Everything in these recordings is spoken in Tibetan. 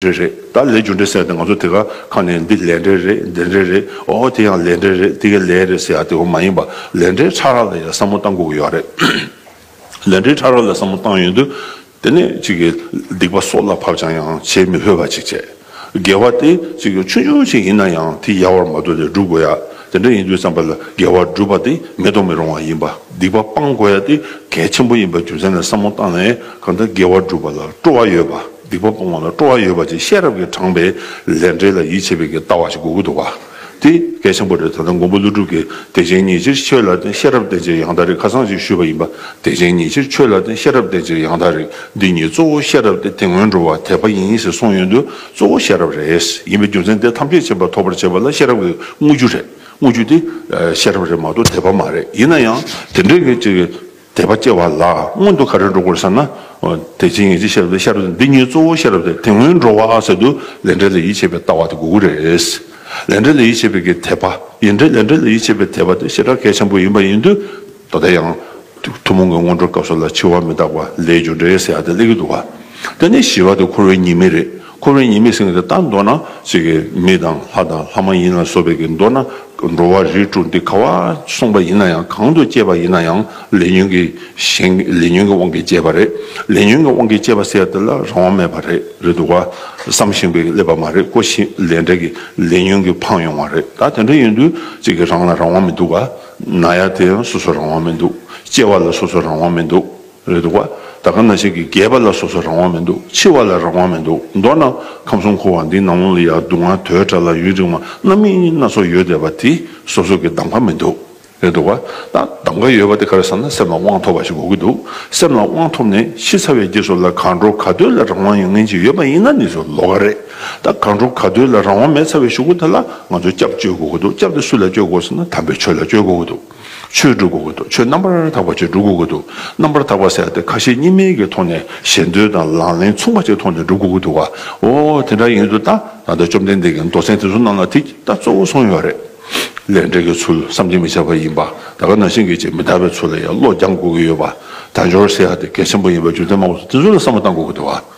རེད་རེད་ད་ལས་རྒྱུ་འབྲས་གསལ་ཏེ་ང་ཚོ་དེ་ག་ཁ་ནས་འདི་ལས་འབྲས་རེད་འདི་འབྲས་རེད་ཨོ་ཨོ་དེ་ཡང་ལས་འབྲས་རེད་དེ་གའི་ལས་རེད་ཟེར་ཡག་དེ་འོ་མ་ཡིན་པ་ལས་འབྲས་ཕྲ་རགས་ལ་ཡང་བསམ་བློ་གཏང་དགོས་ཀྱི་ཡོད་རེད། ལས་འབྲས་ཕྲ་རགས་ལ་བསམ་བློ་བཏང་ཡོད་དུས་དེ་ནས་ཅིག་གིས་སྡིག་པ་སྲོག་ལ་བབ་ཅིང་ཡང་བྱེད་མི་ཕོད་པ་ཅིག་བྱས། འགལ་བ་དེ་ཅིག་གིས་ཆུང་ཆུང་ཞིག་ཡིན་ན་ཡང་དེ་ཡལ་བར་མ་དོ་ལས་བསྒྲུབ་དགོས་ཡ་དེ་འདྲ་ཡིན་དུས་བསམ་པ་ལ་འགལ་བ་སྒྲུབ་པ་དེ་མི་གཏོང་མི་རུང་བ་ཡིན་པ་སྡིག་པ་སྤང་དགོས་ཡ་དེ་གལ་ཆེན་པོ་ཡིན་པ་རྒྱུ་མཚན་ལ་བསམ་བློ་བཏང་ནས་གང་ལྟར་འགལ་བ་སྒྲུབ་པ་ལ་སྤྲོ་བ་ཡོད་པ། སྡིག་པ་སྤོང་བ་ལ་སྤྲོ་བ་ཡོད་པ་ཅིག་ཤེས་རབ་ཀྱིས་དྲངས་པའི་ལས་འབྲས་ལ་ཡིད་ཆེས་པའི་གྱི་ལྟ་བ་ཞིག་དགོས་ཀྱི་འདུག་པ་དེ་གལ་ཆེན་པོ་རེད་ད་ལྟ་མགོན་པོ་ཀླུ་སྒྲུབ་ཀྱིས་བདེ་ཆེན་ཉིད་ཕྱིར་ཆོས་ལ་བརྟེན་ཤེས་རབ་བརྟེན་ཅེས་ཡང་དག་རིགས་ཁ་ཚང་ཞིག་ཞུས་པ་ཡིན་པ་བདེ་ཆེན་ཉིད་ཕྱིར་ཆོས་ལ་བརྟེན་ཤེས་རབ་བརྟེན་ཅེས་ཡང་དག་རིགས་འདི་ཉིད་གཙོ་བོ་ཤེས་རབ་སྟེ་དེ་སྔོན་འགྲོ་བ་དད་པ་ཡིན་ཞེས་གསུངས་ཡོད་དུས་གཙོ་བོ་ཤེས་རབ་རེད་ཡིན་པའི་རྒྱུ་མཚན་དེ་ཐམས་ཅད་བྱེད་པ་ཐོབ་པར་བྱེད་པ་ལ་ཤེས་རབ་ཀྱི་དངོས་རྒྱུ་རེད་དངོས་རྒྱུ་དེ་ཤེས་རབ་རེད་མ་གཏོགས་དད་པ་མ་རེད་ཡིན་ན་ཡང་དེ་འདྲའི་གི་ཅིག་དད་པ་སྐྱེ་བ་ལ་སྔོན་དུ་ག་རེ་འགྲོ་དགོས་ཟེར་ན། དེ་ཕྱིན་ངེས་ཅན་ཤེས་རབ་དེ་ཤེས་རབ་འདི་གཉིས་གཙོ་བོ་ཤེས་རབ་དེ་དེ་སྔོན་འགྲོ་བ་ཟེར་དུས་ལས་འབྲས་ལ་ཡིད་ཆེས་པའི་ལྟ་བ་དེ་དགོས་ཀྱི་རེད། ལས་འབྲས་ལ་ཡིད་ཆེས་པའི་གི་དད་པ་ཡིན་དྲན་ལས་འབྲས་ལ་ཡིད་ཆེས་པའི་དད་པ་དེ་ཞེ་དྲག་གལ་ཆེན་པོ་ཡིན་པ་ཡིན་དུས་ད་ལྟ་ཡང། ཐུན་མོང་གི་སྔོན་འགྲོའི་སྐབས་སུ་ལ་འཆི་བ་མི་རྟག་པ་ལས་རྒྱུ་འབྲས་ཟེར་ཡག་དེ་སླེབས་ཀྱི་འདུག་བ། དེ་ནས་ཞི་བ་དེ་འཁོར་བའི་ཉེས་དམིགས་རེད། འཁོར་བའི་ཉེས་མེད་སེང་གེ་དང་མདོར་ན། ཚིག་གི་མི་དང་ལྷ་དང་ལྷ་མ་ཡིན་ལ་སོགས་པའི་གིས་མདོར་ན། འགྲོ་བ་རིས་དྲུག་འདི་ག་བར་གསུངས་པ་ཡིན་ན་ཡང་གང་དུ་སྐྱེས་པ་ཡིན་ན་ཡང་ལས་ཉོན་གྱི་ཞེན། ལས་ཉོན་གྱི་དབང་གིས་སྐྱེས་པ་རེད། ལས་ཉོན་གྱི་དབང་གིས་སྐྱེས་པ་ཟེར་དེ་ལ་རང་དབང་མེད་པ་རེད་རེད་འདུག་བ། བསམ་བཞིན་པའི་ཀླད་པ་མ་རེད་ཀོ་ཞེས་ལས་འབྲས་ཀྱི་ལས་ཉོན་གྱིས་འཕངས་ཡོང་བ་རེད་ད་དེ་འདྲ་ཡིན་དུས་ཚིག་གིས་རང་ལ་རང་དབང་མི་འདུག་བ། ན་ཡ་དེ་ཡང་སོ་སོར་རང་དབང་མི་འདུག་སྐྱེ་བ་ལ་སོ་སོར་རང་དབང་མི་འདུག། རེད་འདུག་བ། ད་ག་ན་ཞིག་གི་རྒས་པ་ལ་སོ་སོ་རང་དབང་མི་འདུག་འཆི་བ་ལ་རང་དབང་མི་འདུག་མདོར་ན་ཁམས་གསུམ་འཁོར་བ་འདིའི་ནང་ལོང་ལ་ཡང་སྡུག་བསྔལ་དོའི་དགྲ་ལ་ཡུན་རིང་བ་རྣམ་སྨིན་སྣ་ཚོགས་ཡོད་བསྡད་པ་དེ་སོ་སོ་གི་གདམ་ག་མི་འདུག་རེད་འདུག་བ། ད་གདམ་ག་ཡོད་པ་དེ་ག་རེ་ཟེར་ན་སེམས་ལ་དབང་ཐོབ་པ་ཞིག་དགོས་ཀྱི་འདུག་སེམས་ལ་དབང་ཐོབ་ནས་ཤི་ཚར་བའི་རྗེས་སུ་ལ་གང་འགྲོ་ག་འདོད་ལ་རང་དབང་ཡང་ངན་ཅིག་ཡོད་པ་ཡིན་ན་ནི་སུ་ལོ་ག་རེད་ད་ག་འགྲོ་ག་འདོད་ལ་རང་དབང་མེད་ཚར་བའི་ཞུགས་པ་དེ་ལ་ང་ཚོ་སྐྱབས་བཅོལ་དགོས་ཀྱི་འདུག་སྐྱབས་དེ་སུ་ལ་བཅོལ་དགོས་ཟེར་ན་དམ་པའི་ཆོས་ལ་བཅོལ་དགོས་ཀྱི་འདུག། ཆོས་བསྒྲུབ་དགོས་ཀྱི་འདུག་ཆོས་རྣམ་པར་དག་པ་ཅིག་བསྒྲུབ་དགོས་ཀྱི་འདུག་རྣམ་པར་དག་པ་ཟེར་ཏེ་ཁ་ཞེ་གཉིས་མེད་ཀྱི་ཐོག་ནས་ཞེ་འདོད་དང་ལག་ལེན་མཚུངས་པ་ཅིག་ཐོག་ནས་བསྒྲུབ་དགོས་ཀྱི་འདུག་ག་འོ་དེ་འདྲ་ཡིན་དུ་ད་ད་ལྟ་བཅོམ་ལྡན་འདས་ཀྱི་མདོ་ཚན་དེ་ཚོ་རྣམས་ལ་དེ་ད་གཙོ་བོ་སོང་ཡོད་རེད། ལས་འབྲས་ཀྱི་ཚུལ་བསམ་གྱིས་མི་ཁྱབ་པ་ཡིན་པ་ད་ག་ནང་བཞིན་གྱི་ཅིག་མི་དག་པའི་ཚུལ་ལ་ཡང་བློ་སྦྱང་དགོས་ཀྱི་ཡོད་པ་དལ་འབྱོར་ཟེར་ཡག་དེ་གལ་ཆེན་པོ་ཡིན་པ་རྒྱུ་མཚན་མང་པོ་འདུག་དེ་ཚོ་ལ་བསམ་བློ་བཏང་དགོས་ཀྱི་འདུག་ག།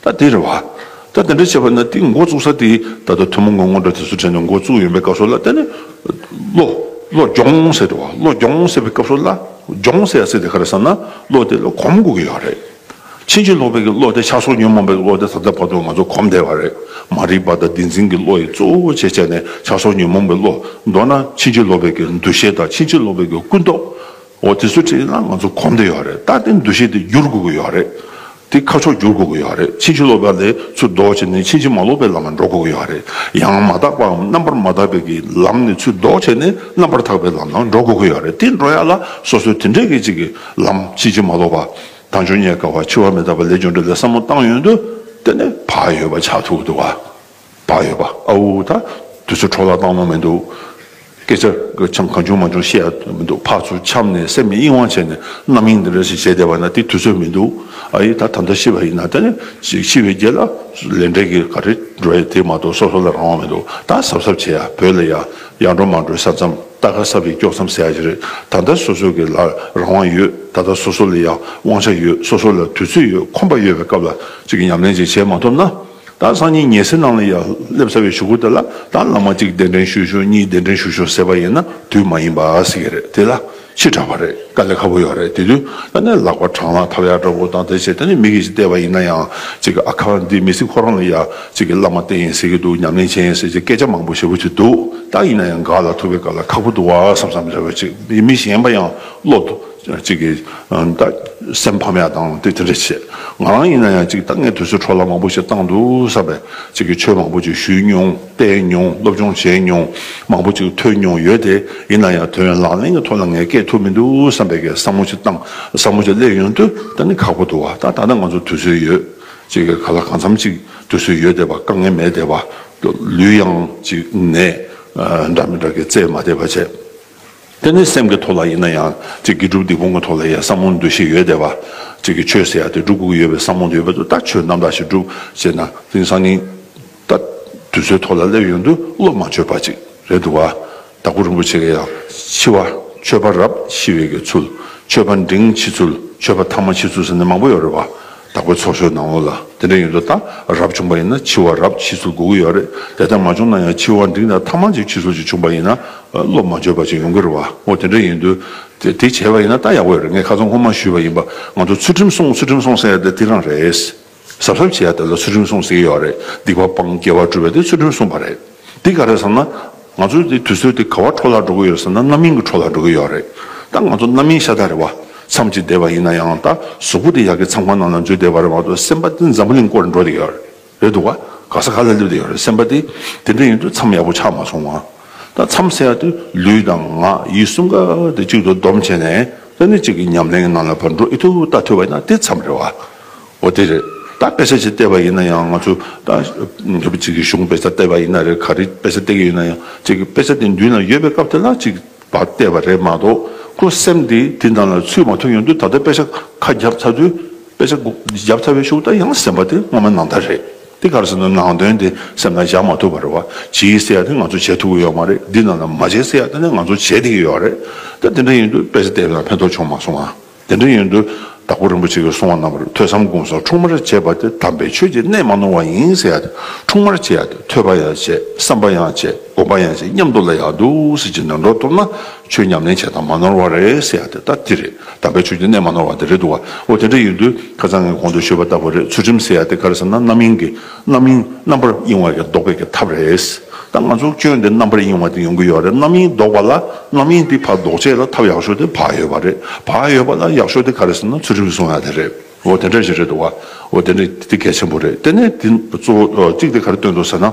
ད་དེ་རེད་བ། ད་དེ་འདྲ་བྱས་པ་ན་དེ་མགོ་བཙུགས་ས་དེ་ད་ལྟ་ཐུན་མོང་གི་སྔོ་འགྲོ་དེ་ཚོ་དྲན་ནས་མགོ་བཙུགས་ཡོད་པའི་སྐབས་སུ་ལ་ད་ནི། བློ། བློ་སྦྱོང་ཟེར་རེད་བ། བློ་སྦྱོང་ཟེར་བའི་སྐབས་སུ་ལ། སྦྱོང་ཟེར་ཡ་ཟེར་དེ་ག་རེ་ཟེར་ན་བློ་དེ་ལ་གོམས་དགོས་ཀྱི་ཡོད་རེད། ཕྱིན་ཅི་ལོག་པའི་གི་བློ་དེ་ཆགས་སོགས་ཉོན་མོངས་པའི་བློ་དེ་ད་ལྟ་བར་དུ་ང་ཚོ་གོམས་བསྡད་པ་རེད། མ་རིག་པ་དང་བདེན་འཛིན་གྱི་བློ་ཡིས་གཙོ་བོ་བྱས་བྱས་ནས་ཆགས་སོགས་ཉོན་མོངས་པའི་བློ། མདོར་ན་ཕྱིན་ཅི་ལོག་པའི་གི་འདུ་ཤེས་དང་ཕྱིན་ཅི་ལོག་པའི་གི་ཀུན་རྟོག། འོ་དེ་ཚོ་བྲིས་ན་ང་ཚོ་གོམས་བསྡད་ཡོད་རེད། ད་དེ་འདུ་ཤེས་དེ་བསྒྱུར་དགོས་ཀྱི་ཡོད་རེད། དེ་ཁ་ཕྱོགས་བསྒྱུར་དགོས་ཀྱི་ཡོད་རེད་ཕྱིན་ཅི་ལོག་པ་ལས་ཚུར་ལྡོག་བྱས་ནས་ཕྱིན་ཅི་མ་ལོག་པའི་ལམ་ལ་འགྲོ་དགོས་ཀྱི་ཡོད་རེད་ཡང་མ་དག་པའམ་རྣམ་པར་མ་དག་པའི་གི་ལམ་ནས་ཚུར་ལྡོག་བྱས་ནས་རྣམ་པར་དག་པའི་ལམ་ལ་འགྲོ་དགོས་ཀྱི་ཡོད་རེད་དེ་འགྲོ་ཡ་ལ་སོ་སོའི་དེ་འདྲའི་གི་གཅིག་གི་ལམ་ཕྱིན་ཅི་མ་ལོག་པ་དང་འབྱུང་ཉེས་དཀའ་བ་འཆི་བ་མི་རྟག་པ་ལས་བྱུང་འདྲ་ལས་བསམ་བློ་བཏང་ཡོད་འདུག་དེ་ནི་བག་ཡོད་པ་ཆགས་ཐུག་འདུག་བ། བག་ཡོད་པ་ཨ་འུ་ད་དུས་ཚོད་འཕྲོག་ལ་བཏང་ལོང་མི་འདུག་སྐད་ཆ་གི་ཆའམ་གང་བྱུང་མ་བྱུང་བཤད་ཡ་མི་འདུག་ཕག་ཚོ་འཁྱམས་ནས་སེམས་ནི་གཡེང་བ་བྱས་ནས་རྣམ་གཡེང་འདི་འདྲ་ཞིག་བྱས་བསྡད་པ་ན་དེ་དུས་ཚོད་མི་འདུག་ཨ་ཡེ་ད་ད་ལྟ་ཤི་བ་ཡིན་ན་ད་ནི་ཅིག་ཤི་བའི་རྒྱལ་ལ་ལས་འབྲས་ཀྱི་ག་རེ་འགྲོ་ཡ་དེ་མ་གཏོགས་སོ་སོ་ལ་རང་དབང་མི་འདུག་ད་གཟབ་གཟབ་བྱས་ཡ་བོད་ལ་ཡ་ཡ་འགྲོ་མ་འགྲོའི་ས་མཚམས་ད་ག་ས་བས་དཀྱོག་མཚམས་ཟེར་ཡ་ཞིག་རེད་ད་ལྟ་སོ་སོ་གི་ལ་རང་དབང་ཡོད་ད་ད་སོ་སོ་ལ་ཡ་དབང་ཆ་ཡོད་སོ་སོ་ལ་དུས་ཚོད་ཡོད་ཁོམ་པ་ཡོད་པའི་སྐབས་ལ་ཅིག་ཉམས་ལེན་ཅིག་བྱས་མ་ཐུབ་ན། ད་སང་ཉིན་ཉེ་སེར་ནང་ལ་ཡང་སླེབས་ཚར་བའི་ཞུ་སྒོ་དེ་ལ་ད་ལ་མ་གཅིག་གདན་འདྲེན་ཞུས་ཞུ་གཉིས་གདན་འདྲེན་ཞུས་ཞུ་ཟེར་བ་ཡིན་ན་དུས་མ་ཡིན་པ་ཟེར་གྱི་རེད་དེ་ལ་ཕྱིར་དྲག་པ་རེད་དཀའ་ལས་ཁ་པོ་ཡོད་རེད་དེ་དུས་ད་ནས་ལག་པ་བྲང་ལ་ཐབ་ཡར་འདྲ་པོ་དང་དེ་བྱས་དེ་ནས་མི་གི་ཅིག་བལྟས་པ་ཡིན་ན་ཡང་གཅིག་གི་ཨ་ཁ་འདི་མི་སྲིད་ཁོ་རང་ལ་ཡང་གཅིག་གི་བླ་མ་བསྟེན་ཡིན་ཟེར་གྱི་འདུག་ཉམས་ལེན་བྱེད་ཡིན་ཟེར་གྱི་སྐད་ཆ་མང་པོ་བཤད་ཕོད་ཀྱི་འདུག་ད་ཡིན་ན་ཡང་འགག་ལ་ཐུག་པའི་སྐབས་ལ་ཁག་པོ་འདུག་བ་བསམ་བསམ་རེ་བ་ཅིག་མི་གཞན་པ་ཡང་བློ་གཅིག་གིས། སེམས་ཕམ་ཡག་བཏང་དེ་དེ་འདྲ་བྱས། ང་རང་ཡིན་ན་ཡང་གཅིག་ད་སྔའི་དུས་ཚོད་འཕྲོ་བརླག་མང་པོ་ཞིག་བཏང་འདུག་བསམ་པས་གཅིག་གིས་ཆོས་མང་པོ་ཅིག་ཞུས་མྱོང་བལྟས་མྱོང་སློབ་སྦྱོང་བྱས་མྱོང་མང་པོ་ཅིག་ཐོས་མྱོང་ཡོད་དེ་ཡིན་ན་ཡང་དོན་ཡོད་ལག་ལེན་གྱི་ཐོག་ལ་ངས་བསྐྱེད་ཐུབ་མི་འདུག་བསམ་པས་བསམ་བློ་ཅིག་བཏང་བསམ་བློ་ཅིག་སླེབས་ཡོང་དུས་ད་ནི་ཁག་པོ་འདུག་བ་ད་ད་ལྟ་ང་ཚོར་དུས་ཚོད་ཡོད་གཅིག་གིས་ག་ལ་གང་འཚམ་ཅིག་དུས་ཚོད་ཡོད་བསྡད་པ་དཀའ་ངལ་མེད་བསྡད་པ། ལུས་ཡང་གཅིག་ནད་འདྲ་མི་འདྲ་གིས་བཙས་མ་བསྡད་པ་བྱས། དེ་ནི་སེམས་ཀྱི་ཐོག་ལ་ཡིན་ན་ཡང། སྒྲུབ་སྡིག་སྤོང་གི་ཐོག་ལ་ཡང་བསམ་བློ་འདོད་ཤེས་ཡོད་བསྡད་པ། ཆོས་ཟེར་ཡ་དེ་སྒྲུབ་དགོས་ཀྱི་ཡོད་པའི་བསམ་བློ་འདི་ཡོད་པ་དུ་ལྟ་ཆོས་རྣམ་དག་ཞིག་སྒྲུབ་ཅེ་ན་དེང་སང་ཉིན་ལྟ་དུས་ཚོད་ཐོག་ལ་སླེབས་ཡོང་དུས་བློ་མ་འཆོལ་བ་ཅིག་རེད་འདུག་བ། དྭགས་པོ་རིན་པོ་ཆེ་ལ་ཡང་འཆི་བ་ཆོས་པ་རབས་ཤི་བའི་གི་ཚུལ། ཆོས་པ་འབྲིང་འཆི་ཚུལ་ཆོས་པ་ཐ་མ་འཆི་ཚུལ་ཟེར་ནི་མང་པོ་ཡོད་རེད་བ། བདག་པོའི་ཚོགས་ཞོལ་ནང་ལོགས་ལ་དེ་འདྲ་ཡོད་འདུག་ད་རབ་བྱུང་པ་ཡིན་ན་འཆི་བ་རབ་འཆི་ཚུལ་སྒུག་གི་ཡོད་རེད་དེ་ལྟར་མ་བྱུང་ན་ཡང་འཆི་བ་འབྲིང་དང་ཐ་མང་ཅིག་འཆི་ཚུལ་ཅིག་བྱུང་པ་ཡིན་ན་བློ་མ་འགྱོད་པ་ཅིག་ཡོང་གི་རེད་བ་ཨོ་དེ་འདྲ་ཡིན་དུས་དེ་བྱས་པ་ཡིན་ན་ད་ཡག་པོ་ཡོད་རེད་ངས་ཁ་ཚོན་ཁོ་མ་ཞུས་པ་ཡིན་པ་ང་ཚོ་ཚུལ་ཁྲིམས་སྲུང་ཚུལ་ཁྲིམས་སྲུང་ཟེར་ཡ་དེ་དེ་རང་རེད་ཟབ་ཟབ་བྱས་ཡ་དེ་ལ་ཚུལ་ཁྲིམས་སྲུང་ཟེར་གྱི་ཡོད་རེད་སྡིག་པ་སྤང་སྐྱེ་བ་སྒྲུབ་པ་དེ་ཚུལ་ཁྲིམས་སྲུང་བ་རེད། འདི་ག་རེད་བསམ་ན། ང་ཚོའི་འདི་དུས་ཚོད་འདི་ག་བར་འཕྲོ་བརླག་འགྲོ་གི་ཡོད་ཟེར་ན་རྣམ་གཡེང་གི་འཕྲོ་བརླག་འགྲོ་གི་ཡོད་རེད། ད་ང་ཚོ་རྣམ་གཡེང་ཤ་སྟག་རེད་བ། མཚམས་གཅིག་བསྡད་པ་ཡིན་ན་ཡང་ད་གཟུགས་པོ་དེ་ཡག་གི་མཚམས་ཁང་ནང་ན་འཛུལ་བསྡད་པ་རེད་བ་དུ་སེམས་པ་འདི་འཛམ་བུ་གླིང་བསྐོར་འགྲོ་འདི་ཡོད་རེད་འདུག་བ། ག་ས་ག་ལ་སླེབས་འདི་ཡོད་རེད་སེམས་པ་དེ། དེ་འདྲ་ཡིན་དུས་མཚམས་ཡག་པོ་ཆགས་མ་སོང་བ། ད་མཚམས་བསལ་ཡག་དུས་ལུས་དང་ངག་ཡིད་གསུམ་ཀ་དེ་གཅིག་ཏུ་བསྡོམས་བྱས་ནས་ས་གནས་གཅིག་གི་ཉམས་ལེན་གྱི་ནང་ལ་བར་འགྲོ་ཨི་ཐུབ་ད་ཐུབ་བ་ཡིན་ན་དེ་མཚམས་རེད་བ། འོ་དེ་རེད། ད་དཔེ་ཆ་གཅིག་བལྟས་པ་ཡིན་ན་ཡང་ང་ཚོ། ད་ངེད་པོ་གཅིག་གིས་གཞུང་དཔེ་ཆ་བལྟས་པ་ཡིན་ན་རེད་ག་རེ་དཔེ་ཆ་བལྟས་ཀྱི་ཡོད་ན་ཡང་གཅིག་གིས་དཔེ་ཆ་དེ་མདུན་ན་ཡོད་པའི་སྐབས་དེ་ལ་གཅིག་བལྟས་པ་རེད་མ་གཏོགས་ཁོ་སེམས་དེ་དེ་འདྲ་ལ་ཚུད་མ་ཐུབ་ཡོང་དུས་ད་ལྟ་དཔེ་ཆ་ཁ་བརྒྱབ་ཚར་དུས་དཔེ་ཆ་བརྒྱབ་ཚར་བའི་ཤུགས་ད་ཡང་སེམས་པ་དེ་སྔོན་མ་ནང་ལྟར་རེད་དེ་ག་རེ་ཟེར་ན་ནང་དོན་དེ་སེམས་ན་བཞག་མ་ཐུབ་པར་བ་གྱིས་ཟེར་ཡག་དེ་ང་ཚོ་བྱེད་ཐུབ་ཀྱི་ཡོད་མ་རེད་འདི་རྣམས་ལ་མ་བྱེད་ཟེར་ཡག་དེ་ནི་ང་ཚོ་བྱེད་བསྡད་ཀྱི་ཡོད་རེད་ད་དེ་འདྲ་ཡིན་དུས་དཔེ་ཆ་བལྟས་ན་ཕན་ཐོགས་བྱུང་མ་སོང་ང། དེ་འདྲ་ཡིན་དུས་དྭགས་པོ་རིན་པོ་ཆེ་གིས་གསུང་བ་རྣམས་པར་ཐོས་བསམ་སྒོམ་སོགས་འཁྲུངས་མར་བྱས་པ་དེ་དམ་པའི་ཆོས་ཀྱི་གནད་མ་ནོར་བ་ཡིན་ཟེར་ཡ་དེ་འཁྲུངས་མར་བྱས་ཡ་དེ་ཐོས་པ་ཡང་བྱས་བསམ་པ་ཡང་བྱས་སྒོམ་པ་ཡང་བྱས་སྙམ་དུ་ལ་ཡང་འདུག་ཟེར་གྱི་ནོན་འགྲོ་ཐུབ་ན་ཆོས་ཉམས་ལེན་བྱས་དང་མ་ནོར་བ་རེད་ཟེར་ཡ་དེ་ལྟ་དེ་རེད་དམ་པའི་ཆོས་ཀྱི་གནད་མ་ནོར་བ་དེ་རེད་འདུག་བ་འོ་དེ་འདྲ་ཡིན་དུས་ཁ་ཚང་ངས་གོང་དུ་ཤོད་པ་ལྟ་བུ་རེད་ཚུལ་ཁྲིམས་ཟེར་ཡ་དེ་ག་རེ་ཟེར་ན་རྣམ་གཡེང་གི་རྣམ་གཡེང་རྣམ་པར་གཡེང་བ་ལས་ལྡོག་པའི་ཀྱི་ཐབས་རེད། ད་ང་ཚོ་སྐྱོན་དེ་རྣམ་པར་གཡེང་བ་དེ་ཡོང་གི་ཡོད་རེད་རྣམ་གཡེང་ལྡོག་པ་ལ་རྣམ་གཡེང་དེ་བར་ལྡོག་བྱེད་ལ་ཐབས་ཡག་ཤོས་དེ་བག་ཡོད་པ་རེད་བག་ཡོད་པ་ལ་ཡག་ཤོས་དེ་ག་རེད་ཟེར་ན་ཚུལ་ཁྲིམས་སྲུང་ཡ་དེ་རེད་འོ་དེ་འདྲ་ཞིག་རེད་འདུག་བ་འོ་དེ་འདྲ་དེ་གལ་ཆེན་པོ་རེད་དེ་ནས་དེ་གཙོ་བོ་གཅིག་དེ་ག་རེ་བཏོན་འདུག་ཟེར་ན།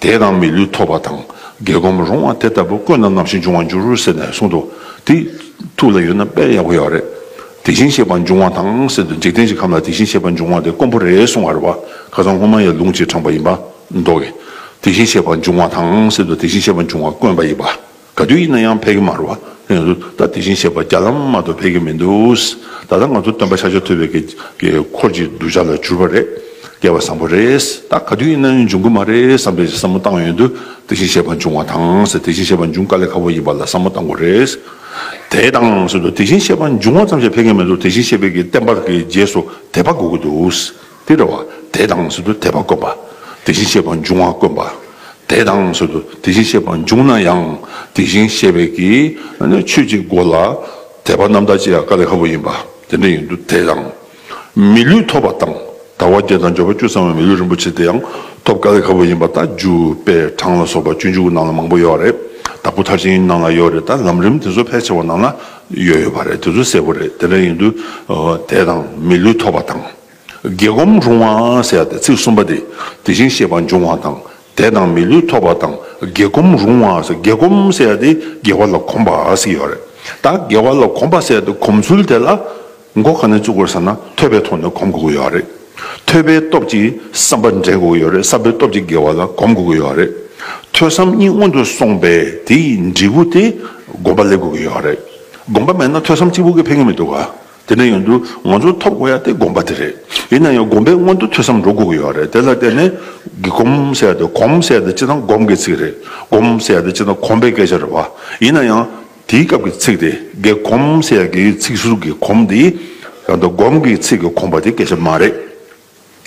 དེས་ན་མི་ལུས་ཐོབ་པ་དང་རྒྱལ་སྒོམ་རུང་བ་དེ་ལྟ་བུ་བཀོད་ན་ནམ་ཞིག་འབྱུང་བར་འགྱུར་རོ་ཟེར་ནས་གསུངས་ཏོ། དེ་ཐུགས་ལ་ཡོད་ན་དཔེར་ཡག་པོ་ཡོད་རེད། དེ་བཞིན་གཤེགས་པ་འབྱུང་བ་དང་ཟེར་དུས་འཇིག་རྟེན་གྱི་ཁམས་ལ་དེ་བཞིན་གཤེགས་པ་འབྱུང་བ་དེ་དཀོན་པོ་རེད་གསུང་བར་བ་ཁ་སང་སྔོན་མ་ཡི་ལུང་གཅིག་དྲངས་པ་ཡིན་པ་མདོག་གིས། དེ་བཞིན་གཤེགས་པ་འབྱུང་བ་དང་ཟེར་དུས་དེ་བཞིན་གཤེགས་པ་འབྱུང་བ་དཀོན་པ་ཡིན་པ། ག་དུས་ཡིན་ན་ཡང་ཕེབས་ཀྱི་མ་རུ་ང་ཚོ་ད་དེ་བཞིན་གཤེགས་པ་རྒྱ་ལམ་མ་གཏོགས་ཕེབས་ཀྱི་མི་འདུག་ད་ལྟ་ང་ཚོ་སྟོན་པ་ཤར་ཕྱོགས་ཐུབ་པའི་འཁོར་གྱི་གདུལ་བྱ་ལ་གྱུར་པ་རེད་སྐལ་བ་བཟང་པོ་རེད་ད་ག་དུས་ཡིན་ན་ཡང་འབྱུང་གི་མ་རེད་བསམ་པའི་བསམ་བློ་བཏང་ཡོད་དུས་དེ་བཞིན་གཤེགས་པ་འབྱུང་བ་དང་དེ་བཞིན་གཤེགས་པ་འབྱུང་དཀའ་ལས་ཁག་པོ་ཡིན་པ་ལ་བསམ་བློ་བཏང་དགོས་རེད་དེ་དང་གསུམ་དུ་དེ་བཞིན་གཤེགས་པ་འབྱུང་བ་ཙམ་ཞིག་ཕེབས་ཀྱི་མི་འདུག་དེ་བཞིན་གཤེགས་པའི་བསྟན་པ་རྒྱས་སུ་དེད་པ་དགོས་ཀྱི་འདུག། དེ་འདྲ་བ་དེ་དང་ཟུར་དུ་དད་པ་དཀོན་པ། དེ་བཞིན་གཤེགས་པ་འབྱུང་བ་དཀོན་པ། དེ་དང་ཟུར་དུ་དེ་བཞིན་གཤེགས་པ་འབྱུང་ན་ཡང་དེ་བཞིན་གཤེགས་པའི་ཀྱི་ཆོས་ཀྱི་སྒོ་ལ་དད་པ་རྣམ་དག་ཅེས་ཀ་ལེ་ཧ་བུ་ཡིན་པ་དེ་འདྲ་ཡིན་དུ་དེ་དང། མི་ལུས་ཐོབ་པ་དང་དང་བ་བརྒྱད་དང་སྦྱོར་བ་བཅུ་ཚང་བའི་མི་ལུས་རིན་པོ་ཆེ་དེ་ཡང་ཐོབ་ཀ་ལེ་ཧ་བུ་ཡིན་པ་ད་རྒྱུ་དཔེ་གྲངས་ལ་སོགས་པ་བཅུ་འཇུག་ནང་ལ་མང་པོ་ཡོད་རེད་དྭགས་པོ་མཐར་ཕྱིན་ནང་ལ་ཡོད་རེད་ད་ལམ་རིམ་དེ་ཚོ་ཕལ་ཆེ་བ་ནང་ལ་ཡོད་ཡོད་པ་རེད་དེ་ཚོ་གསལ་པོ་རེད་དེ་འདྲ་ཡིན་དུ་དེ་དང་མི་ལུས་ཐོབ་པ་དང། དགེ་སྒོམ་རུང་བ་ཟེར་ཏེ་ཚིག་གསུམ་པ་དེ་དེ་བཞིན་གཤེགས་པ་འབྱུང་བ་དང་དད་དང་མི་ལུས་ཐོབ་པ་དང་དགེ་སྒོམ་རུང་བ་ཟེར་དགེ་སྒོམ་ཟེར་ཏེ་དགེ་བ་ལ་གོམས་པ་ཟེར་ཡོད་རེད་ད་དགེ་བ་ལ་གོམས་པ་ཟེར་ཏེ་གོམས་ཚུལ་དེ་ལ་མགོ་ག་ནས་བཙུགས་དགོས་ཟེར་ན་ཐོས་པའི་ཐོག་ནས་གོམས་དགོས་ཀྱི་ཡོད་རེད་ཐོས་པའི་སྟོབས་ཀྱིས་བསམ་པ་འདྲེན་དགོས་ཀྱི་ཡོད་རེད་བསམ་པའི་སྟོབས་ཀྱིས་དགེ་བ་ལ་གོམས་དགོས་ཀྱི་ཡོད་རེད་ཐོས་བསམ་གཉིས་སྔོན་དུ་སོང་པས་དེའི་འབྲས་བུ་དེ་སྒོམ་པ་སླེབས་དགོས་ཀྱི་ཡོད་རེད་སྒོམ་པ་མེད་ན་ཐོས་བསམ་གཅིག་པུ་གིས་ཕན་གྱི་མི་འདུག་ག། དེ་འདྲ་ཡོང་དུས་ང་ཚོ་ཐོབ་དགོས་ཡ་དེ་དགོངས་པ་དེ་རེད། ཡིན་ན་ཡང་དགོངས་པའི་སྔོན་དུ་ཐོས་བསམ་འགྲོ་དགོས་ཀྱི་ཡོད་རེད་དེ་ལ་བརྟེན་ནས། གི་གོམ་ཟེར་ཡ་དེ་གོམ་ཟེར་ཡ་དེ་སྤྱིར་བཏང་གོམ་གྱི་ཚིག་རེད། སྒོམ་ཟེར་ཡ་དེ་སྤྱིར་བཏང་གོམ་པའི་སྐད་ཆ་རེད་བ། ཡིན་ན་ཡང། དེའི་སྐབས་ཀྱི་ཚིག་དེ་གི་གོམ་ཟེར་ཡ་དེའི་ཚིག་ཟུར་གྱི་གོམ་དེའི། རང་དུ་སྒོམ་གྱི་ཚིག་གི་གོམ་པ་དེ་སྐད་ཆ་མ་རེད།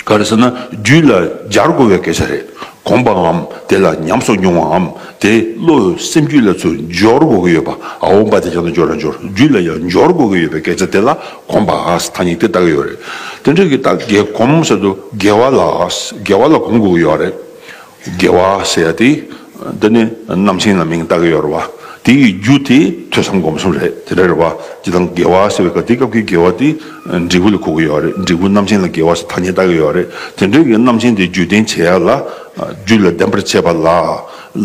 ག་རེ་ཟེར་ན་རྒྱུད་ལ་སྦྱར་དགོས་པའི་སྐད་ཆ་རེད་དགོངས་པའམ་དེ་ལ་ཉམས་སོགས་མྱོང་བའམ་དེ་བློ་འོད་སེམས་རྒྱུད་ལ་ཚུར་འབྱོར་དགོས་ཀྱི་ཡོད་པ་འོང་བ་དེ་ཅང་ཏུ་འབྱོར་ན་འབྱོར་རྒྱུད་ལ་ཡང་འབྱོར་དགོས་ཀྱི་ཡོད་པའི་སྐད་ཆ་དེ་ལ་དགོངས་པ་ཨཱས་ཐ་སྙད་དེ་བཏགས་ཀྱི་ཡོད་རེད་དེ་འདྲ་གི་བཏགས་དགེ་གོམས་ཟེར་དུ་དགེ་བ་ལ་ཨཱས་དགེ་བ་ལ་གོམས་དགོས་ཀྱི་ཡོད་རེད། དགེ་བ་ཟེར་ཡ་དེ། འདི་ནི་རྣམ་མཁྱེན་ལ་མིང་བཏགས་ཀྱི་ཡོད་རེད་བ། དེ་ཡི་རྒྱུ་དེ་ཐོས་བསམ་སྒོམ་གསུམ་རེད་དེ་འདྲ་རེད་བ། དེ་དང་དགེ་བ་ཟེར་བའི་སྐབས་དེ་སྐབས་ཀྱི་དགེ་བ་དེ། འབྲས་བུ་ལ་གོ་གི་ཡོད་རེད་འབྲས་བུ་རྣམ་མཁྱེན་ལ་དགེ་བ་ཞེས་ཐ་སྙད་བཏགས་ཀྱི་ཡོད་རེད་དེ་འདྲས་ཀྱི་རྣམ་མཁྱེན་དེ་རྒྱུད་བསྟན་བྱེད་ཡ་ལ། རྒྱུད་ལ་ལྡན་པར་བྱེད་པ་ལ།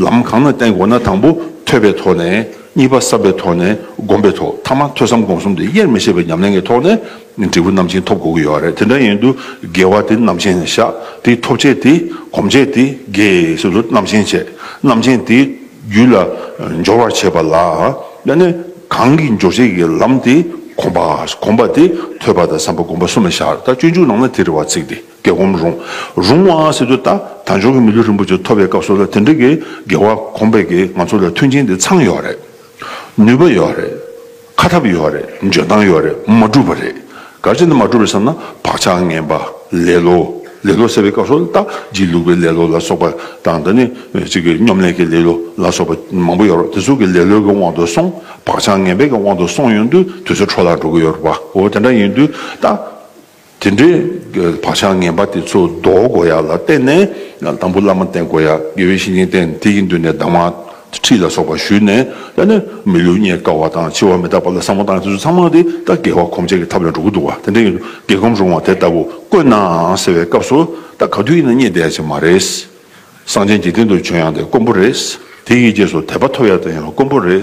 ལམ་གང་ན་བསྟན་དགོས་ན་དང་པོ་ཐོས་པའི་ཐོག་ནས། གཉིས་པ་བསམ་པའི་ཐོག་ནས་སྒོམ་པའི་ཐོག་མཐའ་མ་ཐོས་བསམ་སྒོམ་གསུམ་དེ་དབྱེར་མི་ཕྱེད་པའི་ཉམས་ལེན་གྱི་ཐོག་ནས། འབྲས་བུ་རྣམ་ཅན་ཐོབ་དགོས་ཀྱི་ཡོད་རེད་དེ་འདྲ་ཡིན་དུས་དགེ་བ་དེ་རྣམ་ཅན་ནས་བཤགས་དེའི་ཐོབ་བྱེད་དེ་གོམས་བྱེད་དེ་དགེ་སོ་སོ་རྣམ་ཅན་བྱེད་རྣམ་ཅན་དེའི་རྒྱུད་ལ་འབྱོར་བར་བྱེད་པ་ལ་ཡང་ནི་གང་གིས་འབྱོར་བྱེད་ཀྱི་ལམ་དེ་གོམས་པ་གོམས་པ་དེ་ཐོས་པ་དང་བསམ་པ་བསྒོམ་པ་གསུམ་ལ་བཤགས་རེད་ད་སྤྱོད་འཇུག་ནང་ན་དེ་རེ་བ་ཚིག་དེ་གས་གོམས་རུང་རུང་བ་སྲིད་དུ་ད་དར་འབྱོར་གྱི་མི་ལུས་རིན་པོ་ཆེ་ཐོབ་པའི་སྐབས་སོགས་ལ་དེ་འདྲ་གི་དགེ་བ་གོམས་པའི་གིས་ང་ཚོ་ལ་མཐུན་རྐྱེན་དེ་ཚང་ཡོད་རེད་ནུས་པ་ཡོད་རེད། ཁ་ཐབས་ཡོད་རེད་འཇོན་ཐང་ཡོད་རེད་མ་འགྲུབ་པ་རེད་ག་ཅེ་ན་མ་འགྲུབ་རེད་བསམ་ན་བག་ཆགས་ངན་པ་ལེ་ལོ་ལེ་ལོ་ཟེར་བའི་སྐབས་སུ་ལྟ་སྒྱིད་ལུག་པའི་ལེ་ལོ་ལ་སོགས་པ་དང་ད་ནི་གཅིག་གི་སྙོམ་ལས་ཀྱི་ལེ་ལོ་ལ་སོགས་པ་མང་པོ་ཡོད་རོགས་དེ་ཚོ་གི་ལེ་ལོ་གི་དབང་དུ་སོང་བག་ཆགས་ངན་པའི་གི་དབང་དུ་སོང་ཡོང་དུས་དུས་ཚོད་འཕྲོ་བརླག་འགྲོ་གི་ཡོད་རོགས་པ་འོ་དེ་འདྲ་ཡིན་དུས་ད། དེ་འདྲའི་བག་ཆགས་ངན་པ་དེ་ཚོ་ཟློག་དགོས་ཡ་ལ་བརྟེན་ནས་དང་པོ་བླ་མ་བསྟེན་དགོས་ཡ་དགེ་བའི་བཤེས་གཉེན་བསྟེན་དེ་ཡི་མདུན་ནས་གདམས་ངག་ཁྲིད་ལ་སོགས་པ་ཞུས་ནས་བསླད་ནས་མི་ལུས་རྙེད་དཀའ་བ་དང་འཆི་བ་མི་རྟག་པ་ལ་བསམ་བློ་བཏང་ཡ་དེ་ཚོ་ཚང་མ་དེ་ལྟ་དགེ་བ་གོམས་བྱེད་ཀྱི་ཐབས་ལ་འགྲོ་གི་འདུག་བ་དེ་འདྲ་ཡིན་དུས་དགེ་གོམས་རུང་བ་དེ་ལྟ་བུ་དཀོན་ནའང་ཟེར་བའི་སྐབས་སུ་ད་ག་དུས་ཡིན་ན་རྙེད་བསྡད་ཡ་ཆེ་མ་རེད། གསང་ཆེན་འཇིག་རྟེན་དུ་བྱོན་ཡང་དེ་དཀོན་པོ་རེད། དེ་ཡི་རྗེས་སུ་དད་པ་ཐོབ་ཡ་དེ་ཡང་དཀོན་པོ་རེད།